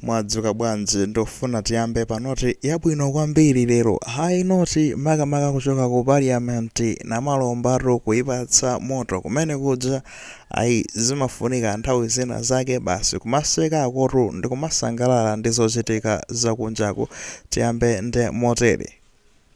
Mwadzuka bwanji? Ndufuna tiyambe pa noti yabwino kwambiri lero. High note makamaka kuchoka ku parliament namalombatu kuipatsa moto kumene kuja ayi zimafunika nthawi zina zake basi kumasekakotu ndikumasangalala ndi zochitika zakunjaku. Tiyambe ndi motere.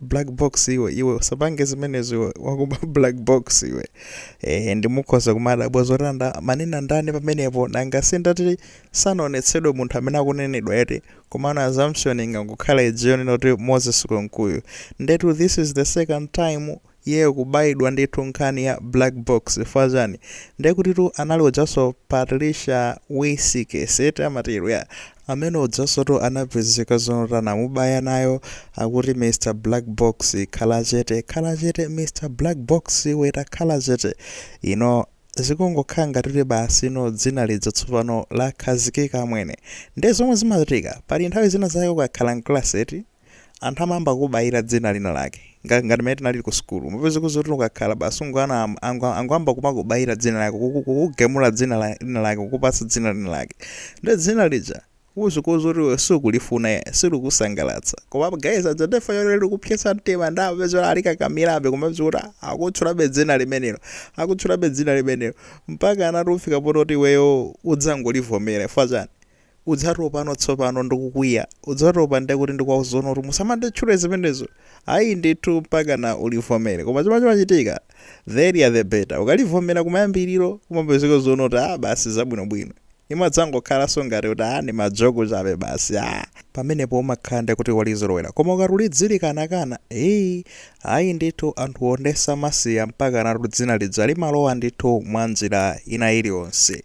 black box iwe iwe usapange zimenezo iwe wakuba black box iwe eh nde mukhoza kumadabwa zoti anamanena ndani pamenepo nanga sindati sanaonetsedwe munthu amene akunenedwa eti komano assumption ingangokhala ija yonoti moses kunkuyu ndetu this is the second time iyeyo kubayidwa ndi nkhani ya black box chifukwa chani ndekutitu anali ujaso patricia wisikesi eti amatero ya Amene ujasotu anapezeka zonoti anamubaya nayo akuti Mr black box khala chete khala chete Mr black box iwe takhala chete you know zikungokhala ngati kuti basi no dzina lija tsopano lakhazikika mwene nde zomwe zimachitika paja nthawi zina zake ukakhala mclass eti Anthu amayamba kukubayira dzina lina lake. Nga, ngati mmene tinalili ku sukulu. Umapeza kuti zoti ukakhala basi ungoyana am- ango- angoyamba kumakubayira dzina lako, kuku- kukugemula dzina la- lina lake, kukupatsa dzina lina lake. Ndi dzina lija uzikawauza kuti iwe sukulifuna ya, silikusangalatsa. Koma guys aja adziwa zoti likupsetsa mtima ndi amapeza kuti alikakamirabe kumapeza kuti akutchulabe dzina limenelo. Akutchulabe dzina limenelo. Mpaka udzafika poti iweyo udzangolivomera. Chifukwa chani? udzatopa tsopano ndikukwiya udzatopa nde kuti ndikuwauza zonoti musamanditchule zimenezo ai ndithu mpakana ulivomele koma chomwe chimachitika the earlier the better ukalivomela kumayambililo umapezeka zonoti aah basi zabwinobwino imadzangokhalanso ngati kuti aah ndimajoko chabe basi aah pamenepo umakhala nde kuti walizolowela koma ukati udzilikanakana eeh ai ndithu anthuwo nde samasiya mpakanatu dzina lija limalowa ndithu mwanjila ina iliyonse.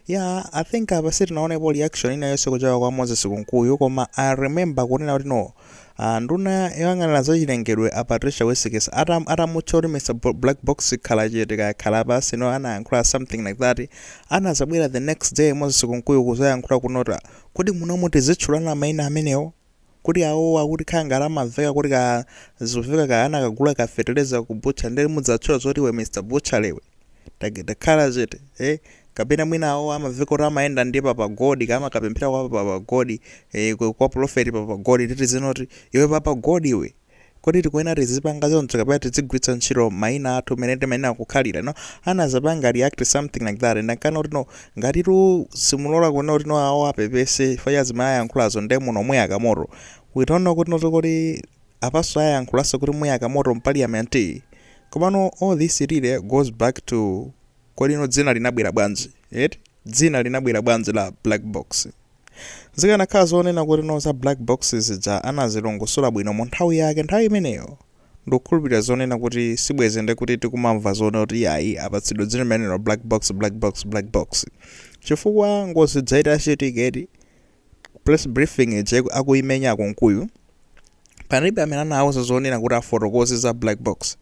Yeah, I think apa sitinaonepo reaction ina yonse kuchoka kwa Moses Kunkuyu koma I remember kunena kuti no ah, nduna yoyang'anira zachilengedwe a Patricia Wisikesi atam, atamutcha kuti Mr Bo- Black Box khala chete kaya khala pansi no anayankhula something like that anazabwera the next day Moses Kunkuyu kuzayankhula kunota kodi munomu tizitchulana maina amenewo kuti awowo akuti khangala amamveka kuti kaya zimveka kaya anakagula ka feteleza ku butchery nde mudzatchula zoti iwe Mr butchery iwe tak- takhala chete eh kapena mwina awo amamveka kuti amayenda ndi papa god kaya amakapemphera kwa papa god eh, kwa- kwa prophet papa god titi tizinoti iwe papa god iwe Kodi tikuyenera tizipanga choncho kapena tizigwiritsa ntchito mayina athu mmene mayina akukhalira? You know, anazapanga react something like that and amanena kuti no, ngatitu simulola kunena kuti no awo apepese chifukwa cha zimene ayankhulazo ndiye muno muyaka moto. We don't know kuti noto kodi apanso ayankhulanso kuti muyaka moto m'parliament? Komano all this really goes back to kodi no dzina linabwera bwanji? Eti? Dzina linabwera bwanji la black box? Zikanakhala zonena kuti no za black box zija anazilongosola bwino mu nthawi yake nthawi imeneyo ndikukhulupilira zonena kuti sibwenzi nde kuti tikumamva zonena kuti iyayi apatsidwa dzina limenelo black box black box black box chifukwa ngozi ija itachitika eti press briefing ija akuimenya a Kunkuyu palibe amene anawauza zonena kuti afotokoze za black box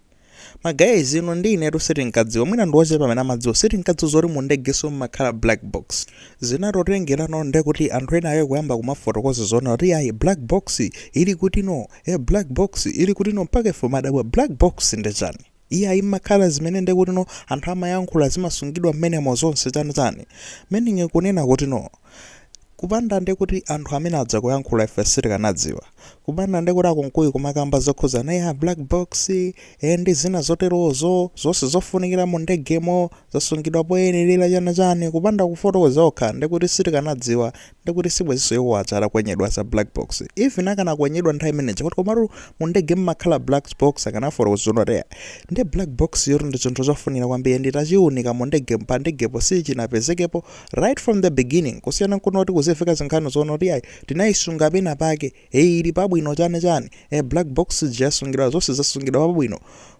Ma guys inu ndi inetu sitinkadziwa mwina ndi ochepa amene amadziwa sitinkadziwa zoti mu ndegenso mumakhala black box zinatotengerano ndi kuti anthu ena ake kuyamba kumafotokoza zonena kuti ayi black box ili kutino e black box ili kutino mpaka ife madabwa black box ndi chani iye ayi mumakhala zimene ndekutino anthu amayankhula zimasungidwa mmenemo zonse chani chani meaning kunena kutino kupanda nde kuti anthu amene aja kuyankhula ife sitikanadziwa kupanda nde kuti a Kunkuyu kumakamba zokhuza na za black box e ndi zina zoterozo zonse zofunikira mu ndegemo zasungidwa poyenerera chani chani kupanda kufotokoza okha nde kuti sitikanadziwa nde kuti sibwenzinso iwo aja atakwenyedwa za black box even akanakwenyedwa nthawi imene ija kuti komatu mu ndege mmakhala black box akanafotokoza zoti eya nde black box yotu ndi chinthu chofunikira kwambiri nde titachiunika mu ndege pa ndegepo sichinapezekepo right from the beginning kusiyana nkuno kuti kuziveka zinkhani zonena kuti ayi tinayisunga pena pake eyi ili pabwino chani chani e black box ija yasungidwa zonse zasungidwa pabwino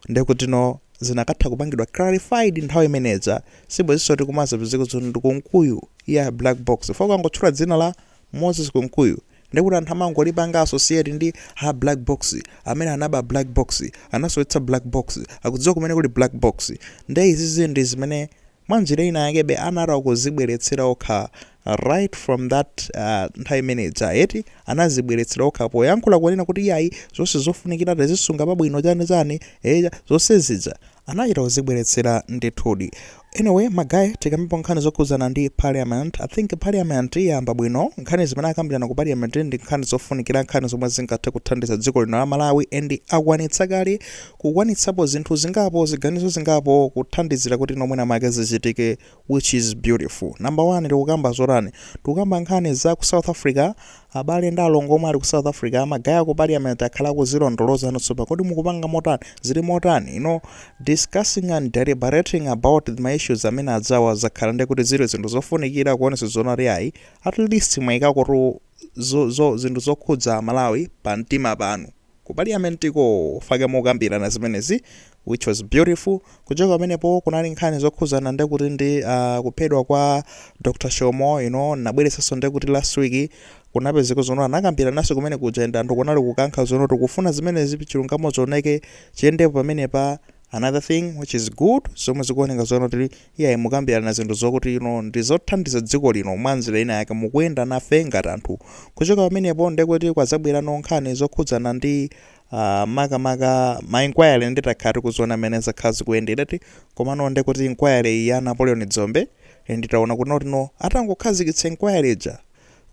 ndekuti no zikanatha kupangidwa clarified nthawi imene ija sibwenzinso tikumazapezeka zoti ndi Kunkuyu wa black box chifukwa angotchula dzina la Moses Kunkuyu ndekuti anthu amangolipanga associate ndi ha black box amene anaba black box anasowetsa black box akudziwa kumene kuli black box nde izizi ndi zimene mwa njira ina yakebe anatha kuzibweretsera okha right from that nthawi imene ija eti anazibweretsera okha poyankhula kunena kuti iyayi zonse zofunikira tazisunga pabwino chani chani eya zonse zija anachita kuzibweretsera ndithudi anyway ma guys tikambipo nkhani zokhudzana ndi parliament i think parliament yayamba bwino nkhani zimene akambirana ku parliament ndi nkhani zofunikira nkhani zomwe zingathe kuthandiza dziko lino la malawi and akwanitsa kale kukwanitsapo zinthu zingapo ziganizo zingapo kuthandizira kuti no mwina mwake zichitike which is beautiful number one tikukamba zotani tikukamba nkhani za ku south africa abale ndi alongo omwe ali ku south africa ma guys a ku parliament akhala akuzilondoloza monse pa kodi mukupanga motani zili motani you know discussing and deliberating about ma issues amene ajawa zakhala ndi kuti zili zinthu zofunikira kuonesa zonena kuti ayi at least mwayikako tu zo, zo, zinthu zokhudza malawi pa mtima panu ku paliyamentiko chifukwa mokambirana zimenezi which was beautiful. Kuchoka pamenepo kunali nkhani zokhuzana ndi kuti ndi uh, kuphedwa kwa Dr. Shomo you know, nabweretsanso ndi kuti last week kunapezeka zoti no anakambirananso kumene kuja and anthu kunali kukankha zoti no tikufuna zimenezi chilungamo chioneke chiyendepo pamenepa another thing which is good zomwe zikuoneka zoti no tili Iyayi mukambirana zinthu zokuti you know ndizothandiza dziko lino mwanzira ina yake mukuyenda nafe ngati anthu kuchoka pamenepo ndekuti kwadzabwerano nkhani zokhudzana ndi uh, makamaka ma inquiry nditakhala tikuziona mmene zakhala zikuyendera eti komano ndekuti inquiry iyi ya Napoleon Dzombe eh, nditaona kuti no atangokhazikitsa inquiry ija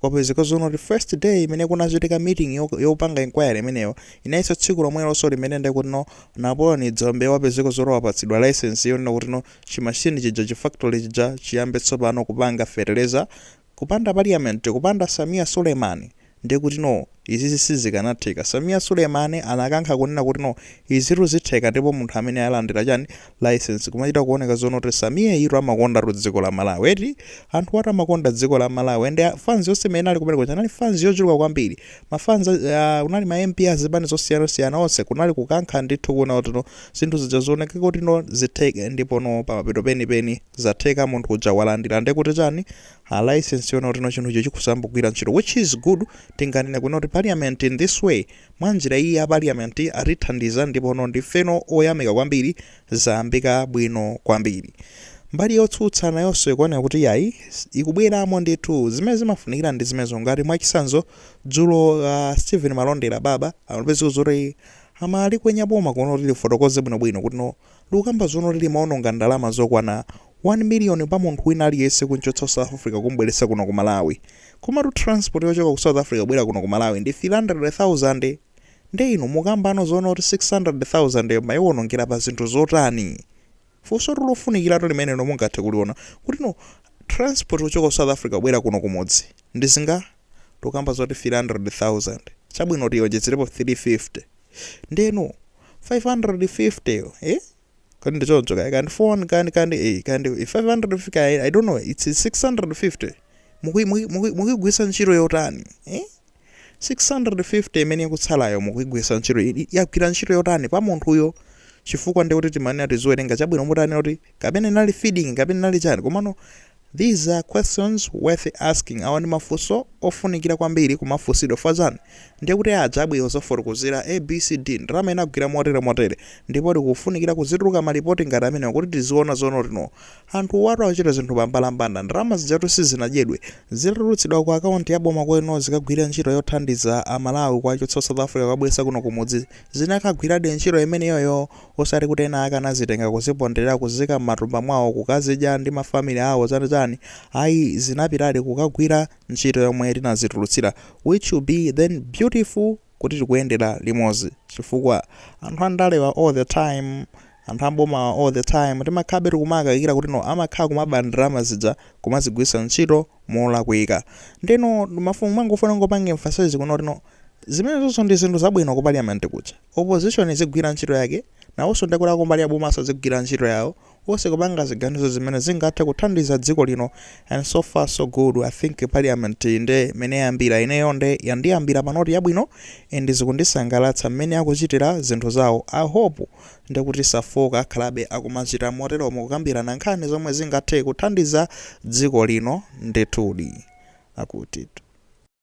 Kwapezeka zonena kuti first day imene kunachitika meeting yopanga inquiry imeneyo inayesa tsiku lomwelonso limene nde kuti no Napoleon Dzombe wapezeka zoti wapatsidwa licence yonena kuti no chi machine chija chi factory chija chiyambe tsopano kupanga feteleza kupanda parliament kupanda Sameer Suleiman ndekuti no Izi sizikanatheka Sameer Suleiman anakankha kunena kuti no izitu zitheka ndipo munthu amene alandira chani licence kumachita kuoneka zonena kuti Sameer-yutu amakondatu dziko la Malawi eti anthuwatu amakonda dziko la Malawi and fans yonse imene inali kumene kuja inali fans yochuluka kwambiri ma fans a kunali ma MP a zipani zosiyana siyana onse kunali kukankha ndithu kuona kuti no zinthu zija zioneke kuti no zitheke ndipo no pamapeto penipeni zatheka munthu uja walandira ndekuti chani a license yonena kuti no chinthucho chikuyamba kugwira ntchito which is good tinganene kunena kuti parliament in this way mwanjira iyi ya parliament atithandiza ndipo no ndifeno oyamika kwambiri zayambika bwino kwambiri mbali yotsutsa nayonso ikuoneka kuti yayi ikubweramo ndithu zimene zimafunikira ndi zimenezo ngati mwachitsanzo dzulo uh, stephen malondera baba amapezeka kuti amalikwenya boma kunena kuti lifotokoze bwinobwino kuti no likukamba zonoti limaononga ndalama zokwana 1 million pa munthu wina aliyense kumchotsa ku South Africa kum'bweretsa kuno ku Malawi. Komatu transport yochoka ku South Africa kubwera kuno ku Malawi ndi 300,000. Nde inu mukukambano zonena kuti 600,000 yo mwaiwonongera pa zinthu zotani? Funsotu lofunikiratu limenelo nonu mungathe kuliona kuti no transport kuchoka ku South Africa kubwera kuno kumudzi ndi zinga? Tikukamba zoti 300,000. Chabwino tionjezerepo 350. Ndeno 550 yo eh? Kandi choncho kaya kandi 400 kandi kandi eh kandi 550 kaya I don't know it's 650. Mukuyi mukuyi mukuyi mukuyigwiritsa ntchito yotani? Eh? 650 imene ikutsalayo mukuyigwiritsa ntchito i- i- yagwira ntchito yotani pa munthuyo chifukwa ndekuti timanena tiziwerenga chabwino mutanena kuti kapena inali feeding kapena inali chani komano these are questions worth asking awa ndi mafunso ofunikira kwambiri kumafunsidwa chifukwa chani ndiye kuti aja abwera kudzafotokozera A B C D ndalama inagwira motere motere ndipo pakufunikira kuzituluka ma lipoti ngati amenewa kuti tiziona zono no anthuwatu akuchita zinthu pambalambanda ndalama zijatu sizinadyedwe zitatulutsidwa ku account ya boma kuti no zikagwire ntchito yothandiza a Malawi kuwachotsa ku South Africa kuwabweretsa kuno kumudzi zinakagwiradi ntchito imeneyoyo osati kuti ena akanazitenga kuziponderera kuziika mmatumba mwawo kukazidya ndi ma family awo chani chani ayi zinapitadi kukagwira ntchito yomwe tinazitulutsira which will be then beautiful kuti tikuyendera limodzi chifukwa anthu andale wa all the time anthu aboma wa all the time timakhalabe tikumawakaikira kuti no amakhala kumaba ndalama zija kumazigwiritsa ntchito molakwika ndiye ndimafuna kungofuna kungopanga emphasize kunena kuti no zimenezoso ndi zinthu zabwino ku parliament kuja Opposition izigwira ntchito yake, nawonso ndekuti akumbali ya bomanso azigwira ntchito yawo, wonse kupanga ziganizo zimene zingathe kuthandiza dziko lino and so far so good, I think parliament yi nde mmene yayambira ineyo nde yandiyambira pa note yabwino and zikundisangalatsa mmene akuchitira zinthu zawo, I hope ndekuti safooka akhalabe akumachita moteromo kukambirana nkhani zomwe zingathe kuthandiza dziko lino ndithudi. Akuti.